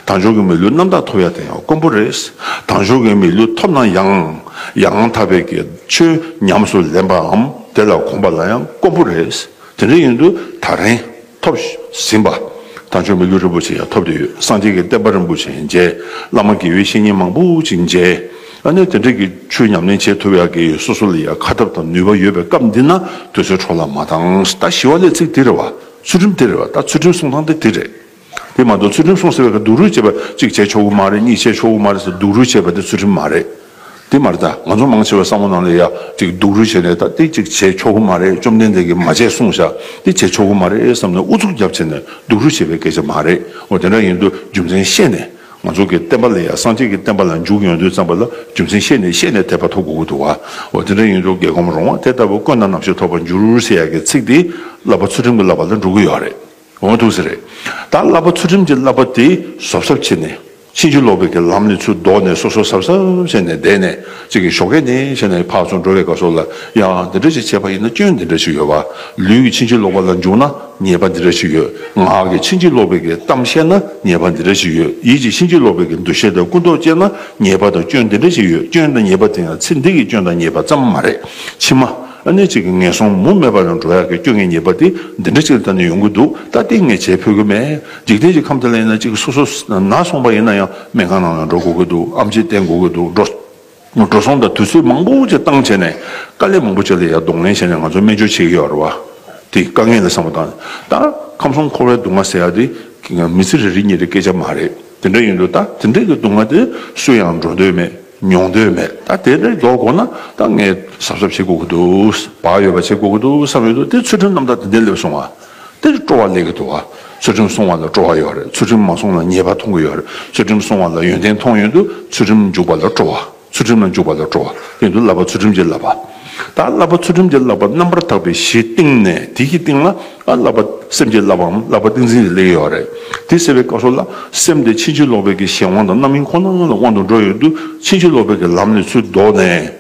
དང་ཆོས་ཀྱི་མི་ལུས་རྣམ་དག་ཐོབ་ཡ་དེ་ཡང་དཀོན་པོ་རེད། དང་ཆོས་ཀྱི་མི་ལུས་ཐོབ་ན་ཡང། ཡང་དག་པའི་གེ་ཆོས་ཉམས་སུ་ལེན་པའམ་དེ་ལ་གོམས་པ་ལ་ཡང་དཀོན་པོ་རེད། དེ་འདྲ་ཡིན་དུས་ད་རིང་ཐོབ་ཟིན་པ། དང་ཆོས་མི་ལུས་རིན་པོ་ཆེ་ཡང་ཐོབ་བསྡད་ཡོད་གསང་ཆེན་གྱི་བསྟན་པ་རིན་པོ་ཆེ་མཇལ། བླ་མ་དགེ་བའི་བཤེས་གཉེན་མང་པོ་ཅིག་མཇལ། ཨ་ནེ་དེ་འདྲ་གི་ཆུ་ཉམས་ལེན་བྱེད་ཐུབ་ཡག་གི་སོ་སོ་ལ་ཡང་ཁ་ཐབས་དང་ནུས་པ་ཡོད་པའི་སྐབས་འདི་ན་དུས་ཚོད་འཕྲོ་ལ་མ་བཏང་ད་ཞི་བ་ལས་ཚིག་དེ་རེད་བ་ཚུལ་ཁྲིམས་དེ་རེད་བ་ད་ཚུལ་ཁྲིམས་སྲུང་སྟངས་དེ་དེ་རེད་དེ་མ་གཏོགས་ཚུལ་ཁྲིམས་སྲུང་ཟེར་བའི་ཁར་སྡུག་རུས་བྱེད་པ་གཅིག་བྱས་ཆོག་གི་མ་རེད་གཉིས་བྱས་ཆོག་གི་མ་རེད་ཟེར་སྡུག་རུས་བྱེད་པ་དེ་ཚུལ་ཁྲིམས་མ་རེད་དེ་མ་རེད་ད་ང་ཚོ་མང་ཆེ་བའི་བསམ་བློ་ནང་ལ་ཡག་གཅིག་སྡུག་རུས་བྱས་ནས་ད་དེ་གཅིག་བྱས་ཆོག་གི་མ་རེད་བཅོམ་ལྡན་འདས་ཀྱིས་མ་བྱས་གསུངས་བཞག་དེ་བྱས་ཆོག་གི་མ་རེད་བསམ་ནས་ཨུ་ཚུགས་རྒྱབ་བྱས་ནས་སྡུག་རུས་བྱེད་པའི་སྐད་ཆ་མ་རེད་འོ་དེ་འདྲ་ཡིན་དུས་རྒྱུ་མཚན་བཤད་ནས། ང་ཚོ་གི་བསྟན་པ་ལ་ཡང་སངས་རྒྱས་ཀྱི་བསྟན་པ་ལ་འཇུག་ཡོང་དུས་བརྩམས་པ་ལ་རྒྱུ་མཚན་ཤེས་ནས་ཤེས་ནས་དད་པ་ཐོབ་དགོས་ཀྱི་འདུག་བ། འོ་དེ་འདྲ་ཡིན་དུས་རྒྱལ་ཁོམ་རོང་བ་དེ་ལྟ་བུ་བཀོད་ན་ནམ་ཞིག་ཐོབ་པར་འགྱུར་ཟེར་ཡག་གི་ཚིག་དེ་བསླབ་པ་ཚུལ་ཁྲིམས་ཀྱི་བསླབ་པ་ལ་འགྲོ་གི་ཡོད་རེད་འོང་ཐུག་ས་རེད། ད་བསླབ་པ་ཚུལ་ཁྲིམས་ཀྱི་བསླབ་པ་དེ་ཟོབ་ཟབ་བྱེད་ནས་ཕྱིན་ཅི་ལོག་པའི་གི་ལམ་ནས་ཚུར་ལྡོག་ནས་སོ་སོ་ཟབ་ཟབ་བྱས་ནས་བསྡད་ནས་ཅིག་གི་ཞོག་ཁད་ནས་བྱས་ནས་ཕར་ཚུར་འགྲོ་བའི་ག་སོ་ལ་ཡང་འདི་འདྲ་ཅིག་བྱས་པ་ཡིན་ན་སྐྱོན་འདི་འདྲ་ཞིག་ཡོད་བ། ལུས་ཀྱི་ཕྱིན་ཅི་ལོག་པ་ལ་འཇུག་ན། ཉེས་པ་འདི་འདྲ་ཞིག་ཡོད། ངག་གིས་ཕྱིན་ཅི་ལོག་པའི་གི་གཏམ་བཤད་ན་ཉེས་པ་འདི་འདྲ་ཞིག་ཡོད། ཡིད་ཀྱིས་ཕྱིན་ཅི་ལོག་པའི་གི་འདུ་ཤེས་དང་ཀུན་རྟོག་སྐྱེས་ན་ཉེས་པ་དང་སྐྱོན་འདི་འདྲ་ཞིག་ཡོད། སྐྱོན་དང་ཉེས་པ་དེ་ཡང་ཚེ་འདི་གི་སྐྱོན་དང་ཉེས་པ་ཙམ་མ་རེད། ཕྱི་མ། གནས་གཅིག་གི་ངན་སོང་མུ་མེད་པ་ལ་འགྲོ་ཡག་གི་སྐྱོ་ངལ་ཉེས་པ་དེ་འདི་འདྲ་ཅིག་ལ་ལྟ་ནས་ཡོང་གི་འདུག་ད་ལྟའི་ངས་བྱེད་ཕོད་ཀྱི་མེད། འཇིག་རྟེན་གྱི་ཁམས་འདི་ལ་ཡིན་ན་གཅིག་སོ་སོ་ན་སོང་པ་ཡིན་ན་ཡང་སྨན་ཁང་ནང་ལ་འགྲོ་དགོས་ཀྱི་འདུག་ཨམ་ཆིས་བསྟེན་དགོས་ཀྱི་འདུག་འགྲོ། འགྲོ་སོང་དང་དུས་ཚོད་མང་པོ་བཅས་བཏང་བྱས་ནས་དཀའ་ལས་མང་པོ་བྱས་ལ་ཡར་གདོང་ལེན་བྱས་ནས་ང་ཚོ་སྨན་བཅོས་བྱེད་ཀྱི་ཡོད་རེད་བ། དེ་དཀའ་ངལ་ལས་སངས་པ་དང། ད་ཁམས་གསུམ་འཁོར་བའི་སྡུག་བསྔལ་ཟེར་ཡག་དེ་མི་ཚེ་རེ་རེ་གཉིས་རེའི་སྐད་ཆ་མ་རེད། དེ་འདྲ་ཡོད་འདུག་ད་དེ་འདྲའི་སྡུག་བསྔལ་དེ་སུ་ཡང་འགྲོ་འདོད་མེད་མྱོང་འདོད་མེད་ད་དེ་འདྲ་མགྱོགས་དགོས་ན་ད་ངས་གཟབ་གཟབ་བྱེད་དགོས་ཀྱི་འདུག་བག་ཡོད་པ་བྱེད་དགོས་ཀྱི་འདུག་བསམ་ཡོད་འདུག་དེ་ཚུལ་ཁྲིམས་རྣམ་དག་དེ་འདྲས་སླེབས་སོང་བ། འདིར་སྤྲོ་བ་ལས་ཀྱི་འདུ་བ། ཚུལ་ཁྲིམས་སྲུང་བ་ལ་སྤྲོ་བ་ཡོད་རེད་ཚུལ་ཁྲིམས་མ་སྲུང་ལ་ཉེས་པ་མཐོང་གི་ཡོད་རེད་ཚུལ་ཁྲིམས་སྲུང་བ་ལ་ཡོན་ཏན་མཐོང་ཡོད་འདུག་ཚུལ་ཁྲིམས་འཇུག་པ་ལ་སྤྲོ་བ། ཚུལ་ཁྲིམས་ལ་འཇུག་པ་ལ་སྤྲོ་བ་དེ་འདུག་བསླབ་པ་ཚུལ་ཁྲིམས་ཀྱི་བསླབ་པ། ད་བསླབ་པ་ཚུལ་ཁྲིམས་ཀྱི་བསླབ་པ་རྣམ་པར་དག་པའི་གཞིའི་སྟེང་ནས་དེ་ཀྱི་སྟེང་ལ་ཨ་བསླབ་པ་སེམས་ཀྱི་བསླབ་པའམ་བསླབ་པ་ཏིང་འཛིན་གྱི་ལས་ཡོད་རེད་དེ་ཟེར་བའི་སྐབས་སུ་ལ་སེམས་དེ་ཕྱིན་ཅི་ལོག་པའི་གྱི་གཞན་དབང་དང་རྣམ་སྨིན་ཁོ་ན་ལ་དབང་དུ་འགྲོ་ཡོད་འདུག་ཕྱིན་ཅི་ལོག་པའི་གྱི་ལམ་ལས་ཚུལ་བཟློག་ནས།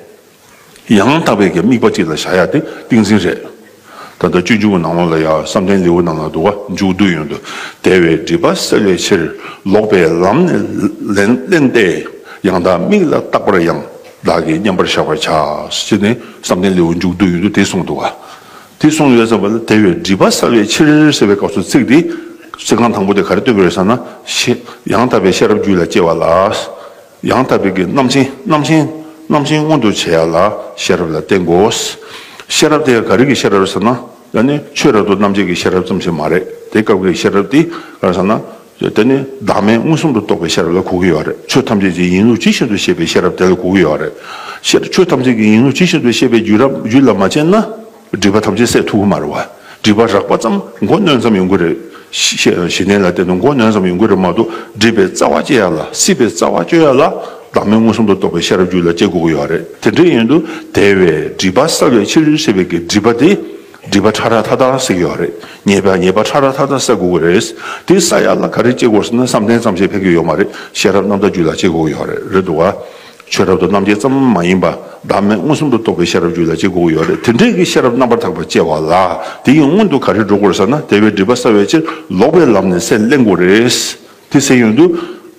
ཡང་དག་པའི་དམིགས་པ་གཅིག་ལ་བཞག་ཡག་དེ་ཏིང་འཛིན་རེད། ད་ལྟ་སྤྱོད་འཇུག་གི་ནང་ལོགས་ལ་ཡང་བསམ་གཏན་ལེའུ་རྣམས་ལ་འདུག་ཀ་འཇུག་བསྡུ་ཡོན་དུ་དལ་བའི་སྒྲིབ་པ་སེལ་བའི་ཕྱིར་ལོག་པའི་ལམ་ནས་གླན་ཏེ་ཡང་དག་དམིགས་ལ་བཏགས་པར་ཡང་དག་གི་མཉམ་པར་བཞག་པར་བྱ་ཞེས་ནི་བསམ་གཏན་ལེའུ་འཇུག་བསྡུ་ཡོན་དུ་དེ་གསུངས་འདུག་ཀ། དེ་གསུངས་ཡོད་ཙམ་པ་ལ་དལ་བའི་སྒྲིབ་པ་སེལ་བའི་ཕྱིར་ཟེར་བའི་སྐབས་སུ་ཚིག་དེ་ཚིག་རྐང་དང་པོ་དེ་ག་རེ་སྟོན་པའི་རེད་བསམ་ན། ཡང་དག་པའི་ཤེས་རབ་རྒྱུད་ལ་སྐྱེ་བ་ལ། ཡང་དག་པའི་རྣམ་མཁྱེན་རྣམ་མཁྱེན། རྣམ་མཁྱེན་མངོན་དུ་བྱེད་ཡ་ལ་ཤེས་རབ་ལ་བརྟེན་དགོས། ཤེས་རབ་དེ་ག་རིགས་ཀྱི་ཤེས་རབ་ཟེར་ན། དེ་ནི་ཆོས་རབ་ཏུ་རྣམ་འབྱེད་ཀྱི་ཤེས་རབ་ཙམ་ཞིག་མ་རེད་དེ་སྐབས་ཀྱི་ཤེས་རབ་དེ་གང་ཟེར་ན། དེ་ནི་བདག་མེད་མངོན་སུམ་དུ་རྟོགས་པའི་ཤེས་རབ་ལ་གོ་གི་ཡོད་རེད་ཆོས་ཐམས་ཅད་ཀྱི་ཡིན་ལུགས་ཇི་བཞིན་དུ་ཤེས་པའི་ཤེས་རབ་དེ་ལ་གོ་གི་ཡོད་རེད། ཆོས་ཐམས་ཅད་ཀྱི་ཡིན་ལུགས་ཇི་བཞིན་དུ་ཤེས་པའི་རྒྱུད་ལ་མ་བྱས་ན། སྒྲིབ་པ་ཐམས་ཅད་སད་ཐུགས་དམར་བ། སྒྲིབ་པ་རགས་པ་ཙམ་མགོ་གནོན་ཙམ་ཡོང་གི་རེད། ཞེ་ནས་ལ་བསྟན་ཏོ་མགོ་གནོན་ཙམ་ཡོང་གི་རེད་མ་གཏོགས་སྒྲིབ་པའི་རྩ་བ་བཅད་ཡག་ལ་སྲིད་པའི་རྩ་བ་གཅོད་ཡག་ལ་བདག་མེད་མངོན་སུམ་དུ་རྟོགས་པའི་ཤེས་རབ་རྒྱུད་ལ་བསྐྱེད་དགོས་ཀྱི་ཡོད་རེད་དེ་འདྲའི་ཡོན་དུ་དེ་བས་སྒྲིབ་པ་སེལ་བའི་ཕྱིར་སྲིད་པའི་གི་སྒྲིབ་པ་དེ་སྒྲིབ་པ་ཕྲ་རགས་མཐའ་དག་སེལ་གྱི་ཡོད་རེད་ཉེས་པའི་ཉེས་པ་ཕྲ་རགས་མཐའ་དག་སེལ་དགོས་ཀྱི་རེད་དེ་སེལ་ཡག་ལ་ག་རེ་བསྐྱེད་དགོས་ཟེར་ན་བསམ་གཏན་ཙམ་ཞིག་ཕེབས་ཀྱི་ཡོད་མ་རེད་ཤེས་རབ་རྣམ་དག་རྒྱུད་ལ་བསྐྱེད་དགོས་ཀྱི་ཡོད་རེད་འདུག་བ། ཆོས་རབ་ཏུ་རྣམ་འབྱེད་ཙམ་མ་ཡིན་པ་བདག་མེད་མངོན་སུམ་དུ་རྟོགས་པའི་ཤེས་རབ་རྒྱུད་ལ་གཅིག་དགོས་ཡོད་རེད་དེ་འདྲས་ཀྱི་ཤེས་རབ་རྣམ་པར་དག་པ་སྐྱེ་བ་ལ་དེ་ཡིན་སྔོན་དུ་ག་རེ་འགྲོ་དགོས་ཟེར་ན་དལ་བའི་སྒྲིབ་པ་བསལ་བའི་ཕྱིར་ལོག་པའི་ལམ་ནས་སེམས་གླན་དགོས་རེད། དེ་སེམས་ཡོན་དུ།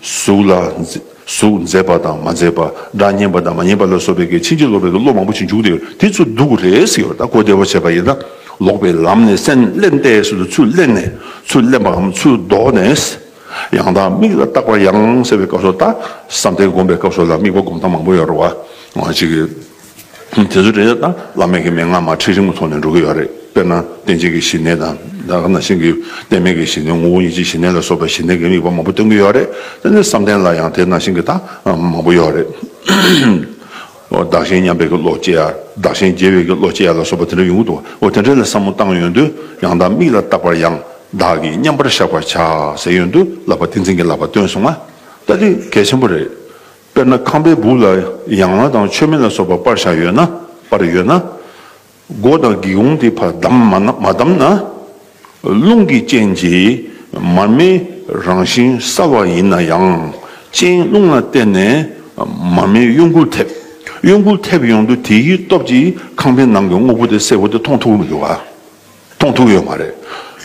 གཟུགས་ལ། གཟུགས་མཛེས་པ་དང་མ་མཛེས་པ། སྒྲ་སྙན་པ་དང་མ་སྙན་པ་ལ་སོགས་པའི་ཕྱིན་ཅི་ལོག་པའི་བློ་མང་པོ་ཞིག་འཇུག་བདེ་དེ་ཚུར་འདུག་དགོས་རེད་ཟེར་ཡོད་ད་གོ་བདེ་བོ་བྱས་པ་ཡིན་ན། ལོག་པའི་ལམ་ནས་སེམས་གླན་ཏེ་ཟེར་དུ་ཚུར་གླན་ནས། ཚུར་གླན་པའམ་ཚུར་ལྡོག་ནས། ཡང་དག་དམིགས་ལ་བཏགས་པ་ཡང་གསལ་བའི་སྐབས་སུ་བཏགས། བསམ་གཏན་བསྒོམ་པའི་སྐབས་སུ་ལ་དམིགས་པ་བསྒོམ་སྟངས་མང་པོ་ཡོད་རེད། འོ་ཅི། དེ་ཚོ་དྲན་བྱ་དང་བླ་མེད་ཀྱི་མན་ངག་མ་ཁྲིད་རིང་མོ་ཐོག་ནས་འགྲོ་གི་ཡོད་རེད། དཔེར་ན་བསྟན་བྱེད་ཀྱི་ཞི་གནས་དང། ད་ག་ན་ཤིང་གི་གཏད་མེད་ཀྱི་ཞི་གནས་ངོ་བོ་ཉིད་ཀྱི་ཞི་གནས་ལ་སོགས་པའི་ཞི་གནས་ཀྱི་དམིགས་པ་མང་པོ་སྟོན་གྱི་ཡོད་རེད། དེ་ནས་བསམ་གཏན་ལ་ཡང་དེ་ནང་བཞིན་གྱི་དག་མང་པོ་ཡོད་རེད། བདག་གཞན་མཉམ་པའི་གི་བློ་སྐྱེ་ཡ། བདག་གཞན་རྒྱལ་བའི་གི་བློ་སྐྱེ་ཡ་ལ་སོགས་པ་དེ་འདྲ་ཡོང་གི་འདུག་དེ་འདྲ་ལ་བསམ་བློ་བཏང་ཡོང་དུས་ཡང་དག་མིག་ལ་བརྟག་པར་ཡང་དག་གིས་མཉམ་པར་བཞག་པར་བྱ་ཟེར་ཡོང་དུས་བསླབ་པ་ཏིང་འཛིན་གྱི་བསླབ་པ་སྟོན་སོང་ང་ལྟ་དུས་གལ་ཆེན་པོ་རེད། དཔེར་ན་ཁང་པའི་སྦུག་ལ་ཡང་ལ་དང་མཆོད་མེ་ལ་སོགས་པ་པར་བཞག་ཡོད་ན་པར་ཡོད་ན། སྒོ་དང་སྒེའུ་དེ་བར་བསྡམས་མ་བསྡམས་ན། རླུང་གི་རྐྱེན་གྱིས་མར་མེའི་རང་བཞིན་སྲ་བ་ཡིན་ན་ཡང་རྐྱེན་རླུང་ལ་བརྟེན་ནས་མར་མེའི་གཡོ་འགུལ་ཐེབས། གཡོ་འགུལ་ཐེབས་ཡོང་དུས་དེའི་སྟོབས་ཀྱིས་ཁང་པའི་ནང་གི་དངོས་པོ་དེ་སེར་བོ་དེ་མཐོང་ཐུབ་ཀྱི་མི་འདུག་ག། མཐོང་ཐུབ་ཀྱི་ཡོད་མ་རེད།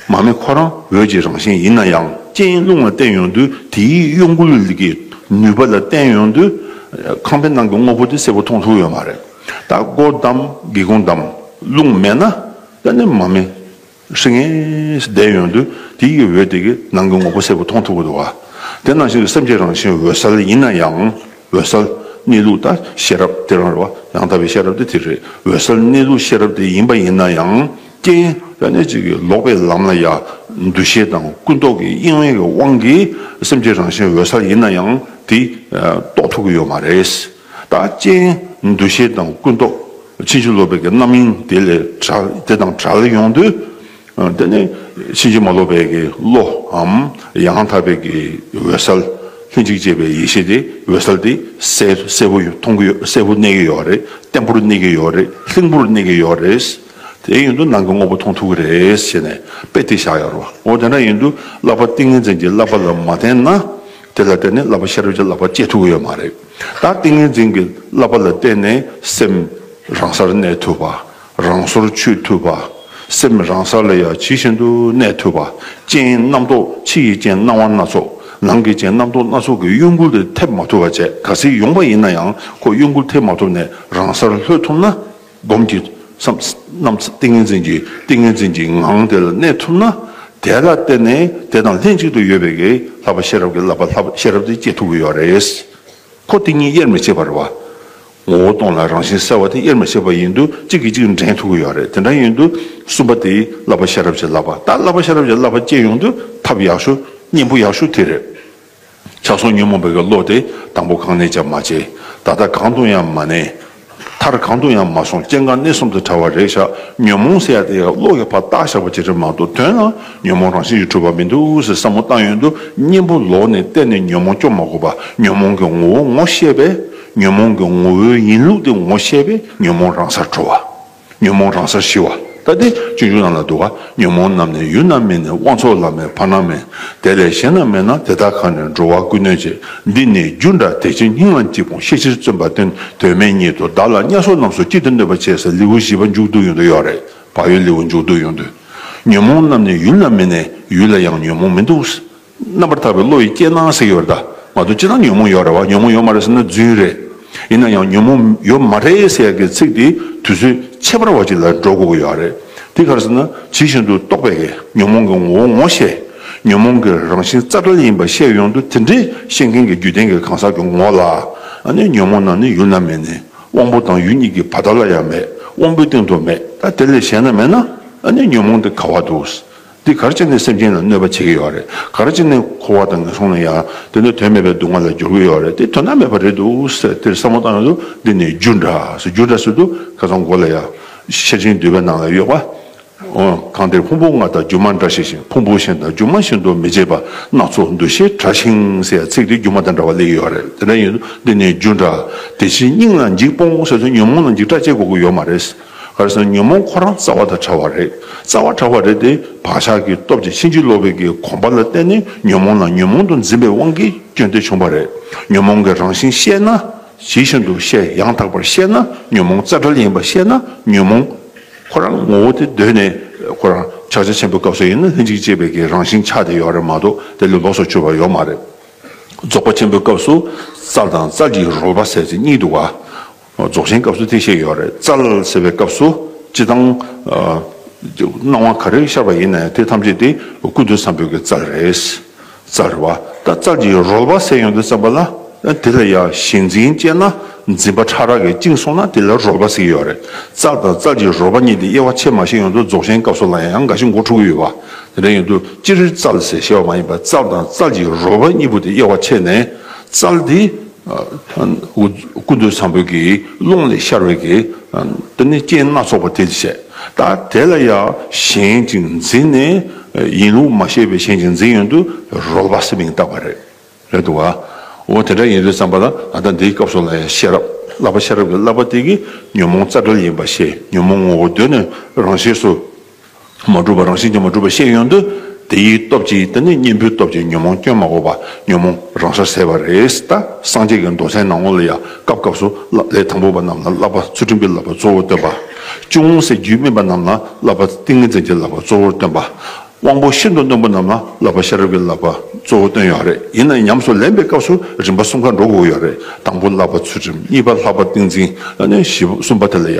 མར་མེ་ཁོ་རང་འོད་ཀྱི་རང་བཞིན་ཡིན་ན་ཡང་རྐྱེན་རླུང་ལ་བརྟེན་ཡོང་དུས་དེའི་གཡོ་འགུལ་གྱི་ནུས་པ་ལ་བརྟེན་ཡོང་དུས་ཁང་པའི་ནང་གི་དངོས་པོ་དེ་སེར་བོ་མཐོང་ཐུབ་ཀྱི་ཡོད་མ་རེད། དག་སྒོར་བསྡམ་སྒེའུ་ཁུང་བསྡམ། རླུང་མེད་ན་ཡང་ནི་མ་མེད། ཧྲི་ངེ་ཞེས་བཟླས་ཡོང་དུས་དེ་ཡི་འོད་དེ་གིས་ནང་གི་ངོ་བོ་གསལ་པོ་མཐོང་ཐུབ་པར་འདུག་དེ་ནང་བཞིན་དུ་སེམས་ཀྱི་རང་བཞིན་འོད་གསལ་ཡིན་ན་ཡང། འོད་གསལ་གནས་ལུགས་དང་ཤེས་རབ་སྟེ་རང་རེ་བ་ཡང་དག་པའི་ཤེས་རབ་དེ་དེ་རེད་འོད་གསལ་གནས་ལུགས་ཤེས་རབ་དེ་ཡིན་པ་ཡིན་ན་ཡང། རྐྱེན་ཡང་ནི་གཅིག་གིས་ལོག་པའི་ལམ་ལ་ཡ། འདུ་ཤེས་དང་ཀུན་རྟོག་གི་གཡེང་བའི་དབང་གིས་སེམས་ཀྱི་རང་བཞིན་འོད་གསལ་ཡིན་ན་ཡང་དེ་རྟོགས་ཐུབ་ཀྱི་ཡོད་མ་རེད། རྟགས་ཅན། འདུ་ཤེས་དང་ཀུན་རྟོག་ཕྱིན་ཅི་ལོག་པའི་རྣམ་སྨིན་དེ་ལས་དེ་དང་བྲལ་ཡོང་དུས། དེ་ནི་ཕྱིན་ཅི་མ་ལོག་པའི་བློའམ་ཡང་དག་པའི་འོད་གསལ། ལྷན་ཅིག་སྐྱེས་པའི་ཡེ་ཤེས་དེ་འོད་གསལ་དེ་གསལ་པོ་མཐོང་གི་ཡོད་གསལ་པོ་གནས་ཀྱི་ཡོད་རེད་བརྟན་པོར་གནས་ཀྱི་ཡོད་རེད་ལྷིང་པོར་གནས་ཀྱི་ཡོད་རེད། དེ་ཡིན་དུ་ནང་གི་དངོས་པོ་མཐོང་ཐུབ་ཀྱི་རེད་བྱས་ནས་དཔེ་དེ་བཞག་ཡོད་རེད། འོ་དེ་འདྲ་ཡིན་དུས་བསླབ་པ་ཏིང་ངེ་འཛིན་གྱི་བསླབ་པ་ལ་མ་བརྟེན་ན་དེ་ལ་བརྟེན་ནས་བསླབ་པ་ཤེས་རབ་ཀྱི་བསླབ་པ་སྤྱད་ཐུབ་ཀྱི་ཡོད་མ་རེད། ད་ཏིང་ངེ་འཛིན་གྱི་བསླབ་པ་ལ་བརྟེན་ནས་སེམས་རང་སར་གནས་ཐུབ་པ། རང་སོར་ཆུད་ཐུབ་པ། སེམས་རང་ས་ལ་ཡང་ཇི་བཞིན་དུ་གནས་ཐུབ་པ། ཅན་རྣམ་རྟོག་ཕྱི་ཡི་ཅན་སྣང་བ་སྣ་ཚོགས་ནང་གི་ཅན་རྣམ་རྟོག་སྣ་ཚོགས་ཀྱི་གཡོ་འགུལ་དེ་ཐེབས་མ་ཐུབ་པ་བཅས་ག་སྲིད་ཡོང་པ་ཡིན་ན་ཡང་ཁོ་གཡོ་འགུལ་ཐེབས་མ་ཐུབ་ནས་རང་སར་ལྷོད་ཐུབ་ན། སྡོམ་གྱི་རྣམས་ཏིང་ངེ་འཛིན་གྱི་ཏིང་ངེ་འཛིན་གྱི་ངང་དེ་ལ་གནས་ཐུབ་ན་དེ་ལ་བརྟེན་ནས་དེ་དང་ལྷན་ཅིག་ཏུ་ཡོད་པའི་ལྷག་པ་ཤེས་རབ་ཀྱི་བསླབ་པ་ལྷག་པ་ཤེས་རབ་དེ་སྐྱེ་ཐུབ་ཀྱི་ཡོད་རེད། འཁོར་དེ་གཉིས་དབྱེར་མི་ཕྱེད་པར་བ། ངོ་བོ་སྟོང་ལ་རང་བཞིན་གསལ་བ་དེ་དབྱེར་མི་ཕྱེད་པ་ཡིན་དུ་གཅིག་གིས་གཅིག་འདྲེན་ཐུབ་ཀྱི་ཡོད་རེད་དེ་འདྲ་ཡིན་དུ་གསུམ་པ་དེ་བསླབ་པ་ཤེས་རབ་ཀྱི་བསླབ་པ་ད་བསླབ་པ་ཤེས་རབ་ཀྱི་བསླབ་པ་སྐྱེ་ཡོང་དུས་ཐབས་ཡག་ཤོས་སྙིང་པོ་ཡག་ཤོས་དེ་རེད། ཆགས་སོང་ཉོན་མོངས་པའི་བློ་དེ་དང་པོ་གང་ནས་ཀྱང་མ་སྐྱེས། ད་ལྟ་གང་དུ་ཡང་མ་གནས། མཐར་གང་དུ་ཡང་མ་སོང་སྐྱེ་འགག་གནས་གསུམ་དུ་ཕྲ་བ་རེག་བྱ་ཉོན་མོངས་ཟེར་ཡ་དེ་ཡང་བློ་ཡོད་པར་བཏགས་བཞག་པ་ཇི་འདྲའི་མང་དུ་ཐོན་ན་ཉོན་མོངས་རང་བཞིན་གྱིས་གྲུབ་པ་མི་འདུག་ཟེར་བསམ་བློ་བཏང་ཡོད་འདུག་གཉེན་པོ་ལོག་ནས་གཏན་ནས་ཉོན་མོངས་སྐྱོབ་མ་དགོས་པར་ཉོན་མོངས་ཀྱི་ངོ་བོ་ངོ་ཤེས་པས། ཉོན་མོངས་ཀྱི་ངོ་བོའི་ཡིན་ལུགས་དེ་ངོ་ཤེས་པས་ཉོན་མོངས་རང་སར་གྲོལ་བ། ཉོན་མོངས་རང་སར་ཞི་བ་ལྟ་སྟེ་སྤྱོད་འཇུག་རྣམས་ལ་འདུ་བ་ཉོན་མོངས་རྣམས་ནི་ཡུལ་རྣམས་མིན་ནས་དབང་ཚོགས་ལ་མེད་བར་སྣང་མེད་དེ་ལས་གཞན་རྣམས་མེད་ན་དེ་དག་གང་ནས་འགྲོ་བ་ཀུན་གནོད་བྱེད་འདི་ནི་རྒྱུ་འདྲ་དེ་ཕྱིར་སྙིང་ལམ་གྱི་དཔུང་ཤེས་ཕྱིར་བརྩོན་པ་སྟོན་དོན་མེད་ཉིད་དུ་བདག་ལ་དམྱལ་སོགས་རྣམས་སུ་གཅིག་ཏུ་གནོད་པར་བྱས་ས་ལེའུ་བཞི་པ་མཇུག་བསྡུ་ཡོང་དུ་ཡོད་རེད་བག་ཡོད་ལེའུ་མཇུག་བསྡུ་ཡོང་དུས། ཉོན་མོངས་རྣམས་ནི་ཡུལ་རྣམས་མིན་ནས་ཡུལ་ལ་ཡང་ཉོན་མོངས་མི་འདུག། རྣམ་པར་ཐར་པའི་བློ་ཡིས་སྐྱེས་སྣང་ཟེར་ཡོད་རེད་ད། ང་ཚོ་ཅི་སྣང་ཉོན་མོངས་ཡོད་རེད་བ་ཉོན་མོངས་ཡོད་མ་རེད་ཟེར་ན་རྫུན་རེད། ཡིན་ན་ཡང་ཉོན་མོངས་ཡོད་མ་རེད་ཟེར་གི་ཚིག་དེ་དུས་ཚོད་ཕྱེད་པར་བ་ཅིག་ལ་འགྲོ་དགོས་ཀྱི་ཡོད་རེད། དེ་གར་ཟེར་ན་ཇི་བཞིན་དུ་རྟོགས་པའི་གེ་ཉོན་མོངས་ཀྱི་ངོ་བོ་ངོ་ཤེས། ཉོན་མོངས་ཀྱི་རང་བཞིན་རྩ་བྲལ་ཡིན་པ་ཤེས་ཡོང་དུས་དེ་འདྲའི་ཤེས་མཁན་གྱི་རྒྱུད་ལྡན་གྱི་གང་ཟག་གི་ངོ་ལ་ནི་ཉོན་མོངས་རྣམས་ནི་ཡུལ་ན་མེད་ནས་དབང་པོ་དང་ཡུལ་གཉིས་ཀྱི་བར་དག་ལ་ཡང་མེད་དབང་པོའི་སྟེང་དུ་མེད་ད་དེ་ལས་གཞན་ན་མེད་ན་ནི་ཉོན་མོངས་དེ་ག་བ་འདུག། འདི་གར་ཅི་ནས་སེམས་ཅན་ལ་གནོད་པ་བྱེད་ཀྱི་ཡོད་རེད་གར་ཅི་ནས་འཁོར་བ་དང་ངན་སོང་ལ་ཡ་དེ་འདྲ་དོན་མེད་པའི་སྡུག་བསྔལ་ལ་སྦྱོར་གྱི་ཡོད་རེད་དེ་དོན་དག་མེད་པ་རེད་འདུག་ཟེར་དེར་བསམ་བློ་བཏང་ཡོང་དུས་འདི་ནི་རྒྱུ་འདྲ་ཟེར་རྒྱུ་འདྲ་ཟེར་དུས་ཁ་སང་མགོ་ལ་ཡ་ཤེར་ཕྱིན་འདུས་པའི་ནང་ལ་ཡོད་པ་གང་དེར་ཕུང་པོ་ལྔ་དང་སྒྱུ་མ་འདྲ་ཞིག་བཞིན་ཕུང་པོ་གཞན་དང་སྒྱུ་མ་བཞིན་དུ་མི་བྱེད་པ་སྣ་ཚོགས་འདུ་ཤེས་དྲག་ཞིང་ཟེར་ཡ་ཚིག་དེ་སྒྱུ་མ་དང་འདྲ་བ་ལས་ཡོད་རེད་དེ་འདྲ་ཡིན་དུས་འདི་ནི་རྒྱུ་འདྲ་དེ་བཞིན་སྙིང་ལ་འཇིགས་སྤོང་ཟེར་དུས་ཉོན་མོངས་ལ་འཇིགས་སྐྲག་ཅེས་གོ་གི་ཡོད་མ་རེད། ཁར་སང་ཉོན་མོངས་ཁོ་རང་རྩ་བ་དང་བྲལ་བ་རེད་རྩ་བ་དྲག་པ་རེད་དེ་བག་ཆགས་ཀྱི་སྟོབས་ཀྱིས་ཕྱིན་ཅི་ལོག་པའི་གི་གོམས་པ་ལ་བརྟེན་ནས་ཉོན་མོངས་ལ་ཉོན་མོངས་དུ་འཛིན་པའི་དབང་གིས་སྐྱོན་དེ་བྱུང་བ་རེད་ཉོན་མོངས་ཀྱི་རང་བཞིན་ཤེས་ན་ཇི་བཞིན་དུ་ཤེས་ཡང་དག་པར་ཤེས་ན་ཉོན་མོངས་རྩ་བྲལ་ཡིན་པ་ཤེས་ན་ཉོན་མོངས། ཁོ་རང་ངོ་བོ་དེ་གདོད་ནས་ཁོ་རང་ཕྱག་རྒྱ་ཆེན་པོའི་སྐབས་སུ་ཡིན་ན་ལྷན་ཅིག་སྐྱེས་པའི་གི་རང་བཞིན་ཆགས་དེ་ཡོད་རེད་མ་གཏོགས་དེ་ལས་ལོགས་སུ་གྱུར་པ་ཡོད་མ་རེད། རྫོགས་པ་ཆེན་པོའི་སྐབས་སུ་རྩ་དང་རྩ་གི་རོལ་པ་ཟེར་ཅིག་གཉིས་འདུག་ག། རྫོགས་ཆེན་སྐབས་སུ་དེ་བཤད་ཡོད་རེད། རྩ་ལ་ཟེར་བའི་སྐབས་སུ་སྤྱི་དང། སྣང་བ་ག་རེ་ཤར་བ་ཡིན་ན་ཡང་དེ་ཐམས་ཅད་དེ་ཀུན་ཏུ་བསམ་ཕོད་ཀྱི་རྩལ་རེད། རྩལ་རེད་བ། ད་རྩལ་གྱི་རོལ་བ་ཟད་ཡོང་དུ་བརྩམས་པ་ལ། དེ་ལ་ཡང་ཞེན་འཛིན་བཅས་ན་འཛིན་པ་ཕྲ་རགས་ཀྱིས་བཅིངས་སོང་ན་དེ་ལ་རོལ་བ་ཟེར་གྱི་ཡོད་རེད། རྩལ་དང་རྩལ་གྱི་རོལ་བ་གཉིས་དེ་དབྱེ་བ་ཆེར་མ་ཤེས་ཡོང་དུ་རྫོགས་ཆེན་སྐབས་སུ་ལ་ཡང་འགའ་ཞིག་མགོ་འཁྲུག་གི་ཡོད་བ། དེ་འདྲ་ཡིན་དུ་སྤྱིར་རྩལ་ཟེར་ཤེས་བ་མ་ཡིན་པར་རྩལ་དང་རྩལ་གྱི་རོལ་བ་གཉིས་པོ་དེ་དབྱེ་བ་ཕྱེས་ནས་རྩལ་དེ། ཀུན་ཏུ་བཟང་པོའི་ཀློང་ལས་ཤར་བའི་རྟེན་སྣ་ཚོགས་པ་དེ་བྱས། ད་དེ་ལ་ཡང་གཞན་ཅིག་འཛིན་ནས་ཡིན་ལུགས་མ་ཤེས་པའི་གཞན་ཅིག་འཛིན་ཡོན་དུ་རོལ་བ་སེམས་མིང་བཏགས་པ་རེད། རེད་འདུག་ག། འོ་དེ་འདྲ་ཡིན་རེད་བསམ་པ་ན་ད་ལྟ་འདིའི་སྐབས་སུ་ལ་ཡང་ཤེས་རབ་བསླབ་པ་ཤེས་རབ་ཀྱི་བསླབ་པ་དེ་གིས་ཉོན་མོངས་རྩ་བྲལ་ཡིན་པ་ཤེས་ཉོན་མོངས་ངོ་བོ་གདོད་ནས་རང་ཤེས་སུ་མ་གྲུབ་པ་རང་བཞིན་གྱིས་མ་གྲུབ་པའི་ཤེས་ཡོན་དུ་དེ་ཡི་སྟོབས་ཀྱིས་དེ་ནི་གཉེན་པོའི་སྟོབས་ཀྱིས་ཉོན་མོངས་སྐྱོན་མ་འགོག་པ་ཉོན་མོངས་རང་སར་ཟད་པ་རེད་ད་སངས་རྒྱས་ཀྱི་མདོ་ཚན་ནང་ངོ་ལ་ཡ་སྐབས་སྐབས་སུ་ལས་དང་པོ་པ་རྣམས་ལ་བསླབ་པ་ཚུལ་ཁྲིམས་ཀྱི་བསླབ་པ་གཙོ་བོར་སྟོན་པ། ཅུང་ངོ་སེ་རྒྱུད་སྨིན་པ་རྣམས་ལ་བསླབ་པ་ཏིང་ངེ་འཛིན་གྱི་བསླབ་པ་གཙོ་བོར་སྟོན་པ། དབང་པོ་ཤིན་ཏུ་རྣོན་པོ་རྣམས་ལ་བསླབ་པ་ཤེས་རབ་ཀྱི་བསླབ་པ་གཙོ་བོར་སྟོན་ཡོད་རེད་ཡིན་ན་ཉམས་སུ་ལེན་པའི་སྐབས་སུ་རིམ་པ་གསུམ་ཀ་འགྲོ་དགོས་ཀྱི་ཡོད་རེད་དང་པོ་བསླབ་པ་ཚུལ་ཁྲིམས་གཉིས་པ་ལྷག་པར་ཏིང་འཛིན་ལ་ནི་བཞི་པ་གསུམ་པ་དེ་ལ་ཡ་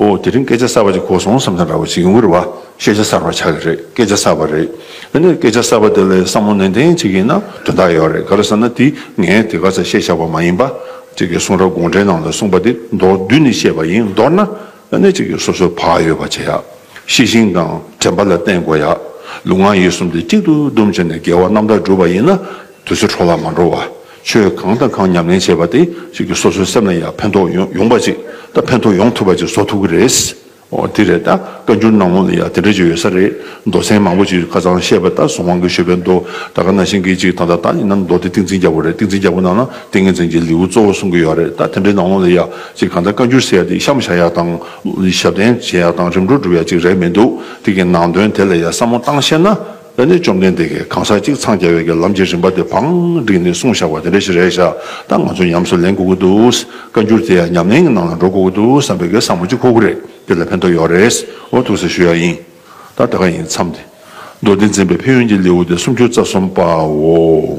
ཨོ་དེ་རིང་སྐད་ཆ་གསར་བ་ཅིག་གོ་སོང་བསམ་ས་འདྲ་བོ་ཅིག་ཡོང་གི་རེད་བ་ཤེས་བྱ་གསར་བ་ཆགས་ཀྱི་རེད་སྐད་ཆ་གསར་བ་རེད་དེ་ནས་སྐད་ཆ་གསར་བ་དེ་ལ་བསམ་བློ་ནན་ཏན་བྱེད་ཀྱི་ཡིན་ན་དོན་དག་ཡོད་རེད་ག་རེ་ཟེར་ན་དེ་ངས་དེ་ག་ཚད་བཤད་ཆགས་པ་མ་ཡིན་པ་ཅིག་གི་གསུང་རབ་དགོངས་འགྲེལ་ནང་ལ་གསུངས་པ་དེ་མདོར་བསྡུས་ནས་བཤད་པ་ཡིན་མདོར་ན་དེ་ནས་ཅིག་གི་སོ་སོའི་བག་ཡོད་པ་བྱེད་ཡག་ཤེས་ཤིང་དང་དྲན་པ་ལ་བརྟེན་དགོས་ཡག་ལུས་ངག་ཡིད་གསུམ་དེ་གཅིག་ཏུ་བསྡོམས་བྱས་ནས་དགེ་བ་རྣམ་དག་བསྒྲུབ་པ་ཡིན་ན་དུས་ཚོད་འཕྲོ་བརླག་མ་འགྲོ་བ། ཆོས་གང་དང་གང་ཉམས་ལེན་བྱེད་པ་དེ་ཞིག་གིས་སོ་སོའི་སེམས་ལ་ཡང་ཕན་ཐོགས་ཡོང་པ་ཅིག་དང་ཕན་ཐོགས་ཡོང་ཐུབ་པ་ཅིག་བཟོ་ཐུབ་ཀྱི་རེད། འོ་དེ་རེད་ད་བཀའ་འགྱུར་ནང་ལོགས་ལ་ཡང་དེ་འདྲ་ཅིག་ཡོད་ས་རེད། མདོ་ཚན་མང་པོ་ཅིག་ཁ་ཚང་བཤད་པ་ལྟར་གཟུངས་དབང་གི་ཞུ་བའི་མདོ་ད་ག་ན་ཤིང་གི་ཅིག་དང་ད་ལྟ་ཡིན་ན་མདོ་དེ་ཏིང་འཛིན་རྒྱ་བོ་རེད་ཏིང་འཛིན་རྒྱ་བོ་ནང་ན་ཏིང་ངེ་འཛིན་གྱི་ལེའུ་གཙོ་བོ་གསུང་གི་ཡོད་རེད་ད་དེ་འདྲའི་ནང་ལོགས་ལ་ཡང་ཅིག་གང་ལྟར་བཀའ་འགྱུར་ཟེར་ཡ་དེ་གཤམ་བཞག་ཡག་དང། ཞབས་བརྟན་བྱེད་ཡག་དང་རིམ་གྲོ་སྒྲུབ་ཡག་ཅིག་རེག་མི་འདུག་དེ་གི་ནང་དོན་དེ་ལ་ཡང་བསམ་བློ་བཏང་ཤེས་ན། ལས་ནི་བཅོམ་ལྡན་འདས་ཀྱིས་གང་ཟག་གཅིག་འཚང་རྒྱ་བའི་གྱི་ལམ་གྱི་རིམ་པ་དེ་བང་བསྒྲིགས་ནས་གསུངས་བཞག་པ་དེ་འདྲ་ཞིག་རེད་བཞག་ད་ང་ཚོ་ཉམས་སུ་ལེན་དགོས་ཀྱི་འདུག་བཀའ་འགྱུར་དེ་ཡང་ཉམས་ལེན་གྱི་ནང་ལ་འགྲོ་དགོས་ཀྱི་འདུག་བསམ་པའི་གྱི་བསམ་བློ་གཅིག་ཁོག་པོ་རེད་འདི་ལ་ཕན་ཐོགས་ཡོད་རེད་འོ་ཐུགས་གསལ་ཞུ་ཡག་ཡིན། ད་ད་ག་ཡིན་མཚམས་ཏེ། མདོ་སྡེ་འཛིན་པའི་ཕན་ཡོན་གྱི་ལེའུ་སྟེ་སུམ་ཅུ་རྩ་གསུམ་པའོ།